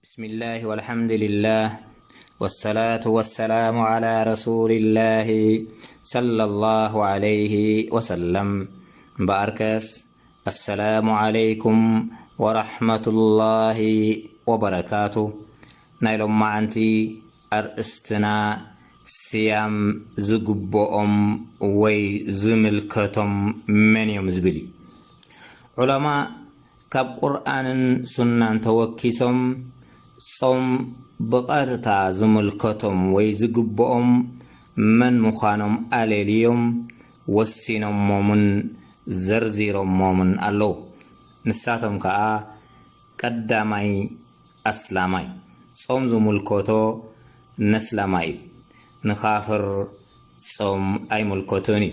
ብስሚላህ ወልሓምዱሊላህ ወሰላቱ ወሰላሙ ዓላ ረሱሊላሂ ሰለሏሁ ዓለይሂ ወሰለም እምበኣርከስ ኣሰላሙ ዓለይኩም ወራሕመቱሏሂ ወበረካቱ ናይ ሎማዓንቲ ኣርእስትና ስያም ዝግበኦም ወይ ዝምልከቶም መን እዮም ዝብል እዩ ዑለማእ ካብ ቁርኣንን ሱናን ተወኪሶም ጾም ብቐጥታ ዝምልከቶም ወይ ዝግብኦም መን ምዃኖም ኣለልዮም ወሲኖሞምን ዘርዚሮሞምን ኣለዉ። ንሳቶም ከኣ፣ ቀዳማይ ኣስላማይ፣ ጾም ዝምልከቶ ነስላማይ እዩ። ንካፍር ጾም ኣይምልከቶን እዩ።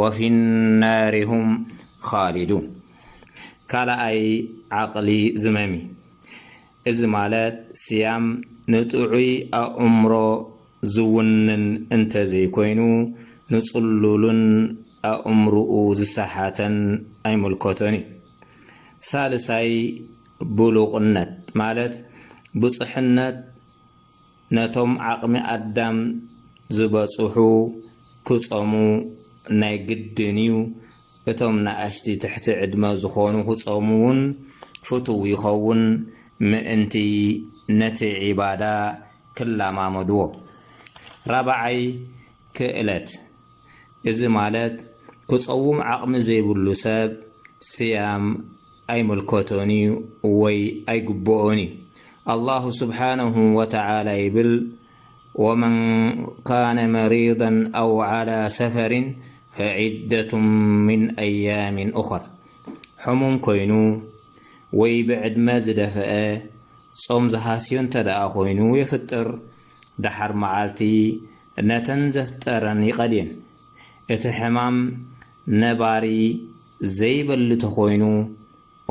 ወፊ ናሪ ሁም ኻሊዱን ካልኣይ ዓቕሊ ዝመም እዩ። እዚ ማለት ስያም ንጥዑይ ኣእምሮ ዝውንን እንተዘይኮይኑ ንጽሉልን ኣእምርኡ ዝሰሓተን ኣይምልከቶን እዩ። ሳልሳይ ብሉቕነት ማለት ብጹሕነት፣ ነቶም ዓቕሚ ኣዳም ዝበጽሑ ክጸሙ ናይ ግድን እዩ፣ እቶም ናኣሽቲ ትሕቲ ዕድመ ዝኾኑ ክጸሙ ውን ፍቱው ይኸውን ምእንቲ ነቲ ዒባዳ ክላማመድዎ። ራባዓይ ክእለት እዚ ማለት ክጸውም ዓቕሚ ዘይብሉ ሰብ ስያም ኣይምልከቶን እዩ ወይ ኣይግብኦን እዩ ኣላሁ ስብሓነሁ ወተዓላ ይብል ወመን ካነ መሪደን ኣው ዓላ ሰፈሪን ፈዒደቱ ምን ኣያሚን ኡኸር ሕሙም ኮይኑ ወይ ብዕድመ ዝደፈአ ጾም ዝሃስዮ እንተ ደኣ ኮይኑ የፍጥር ደሓር መዓልቲ ነተን ዘፍጠረን ይቐድየን እቲ ሕማም ነባሪ ዘይበሊ ተኾይኑ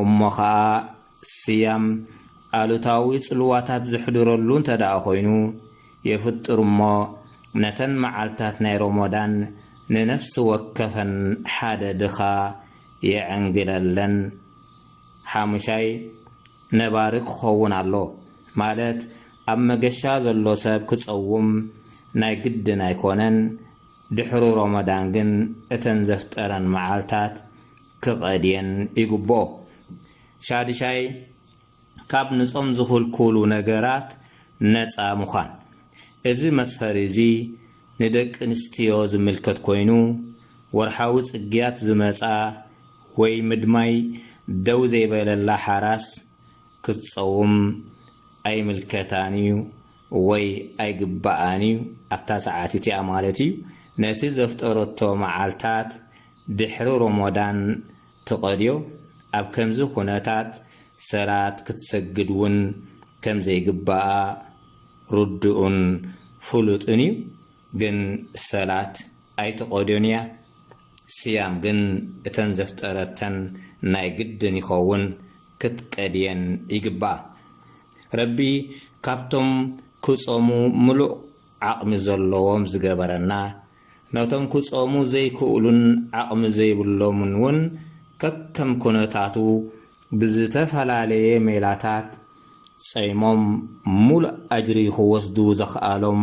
እሞ ኸኣ ስያም ኣሉታዊ ጽልዋታት ዘሕድረሉ እንተደኣ ኮይኑ የፍጥር እሞ ነተን መዓልታት ናይ ሮሞዳን ንነፍሲ ወከፈን ሓደ ድኻ የዐንግለለን። ሓሙሻይ፣ ነባሪ ክኸውን ኣሎ ማለት ኣብ መገሻ ዘሎ ሰብ ክጸውም ናይ ግድን ኣይኮነን። ድሕሪ ሮሞዳን ግን እተን ዘፍጠረን መዓልታት ክቐድየን ይግብኦ። ሻድሻይ፣ ካብ ንጾም ዝኽልኩሉ ነገራት ነጻ ምዃን። እዚ መስፈሪ እዚ ንደቂ ኣንስትዮ ዝምልከት ኮይኑ፣ ወርሓዊ ጽግያት ዝመጻ ወይ ምድማይ ደው ዘይበለላ ሓራስ ክትጸውም ኣይምልከታን እዩ። ወይ ኣይግባኣን ኢዩ ኣብታ ሰዓት እቲኣ ማለት ኢዩ ነቲ ዘፍጠረቶ መዓልታት ድሕሪ ሮሞዳን ትቀድዮ ኣብ ከምዚ ኩነታት ሰላት ክትሰግድ ውን ከም ዘይግባኣ ርዱኡን ፍሉጥን ኢዩ ግን ሰላት ኣይትቀድዮን ኢያ ስያም ግን እተን ዘፍጠረተን ናይ ግድን ይከውን ክትቀድየን ይግባኣ ረቢ ካብቶም ክጾሙ ምሉእ ዓቅሚ ዘሎዎም ዝገበረና ነቶም ክጾሙ ዘይክእሉን ዓቅሚ ዘይብሎምን ውን ከከም ኩነታቱ ብዝተፈላለየ ሜላታት ጸይሞም ምሉእ ኣጅሪ ክወስዱ ዘኽኣሎም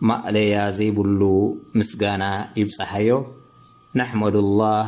ማእለያ ዘይብሉ ምስጋና ይብጻሓዮ ነሕመዱላህ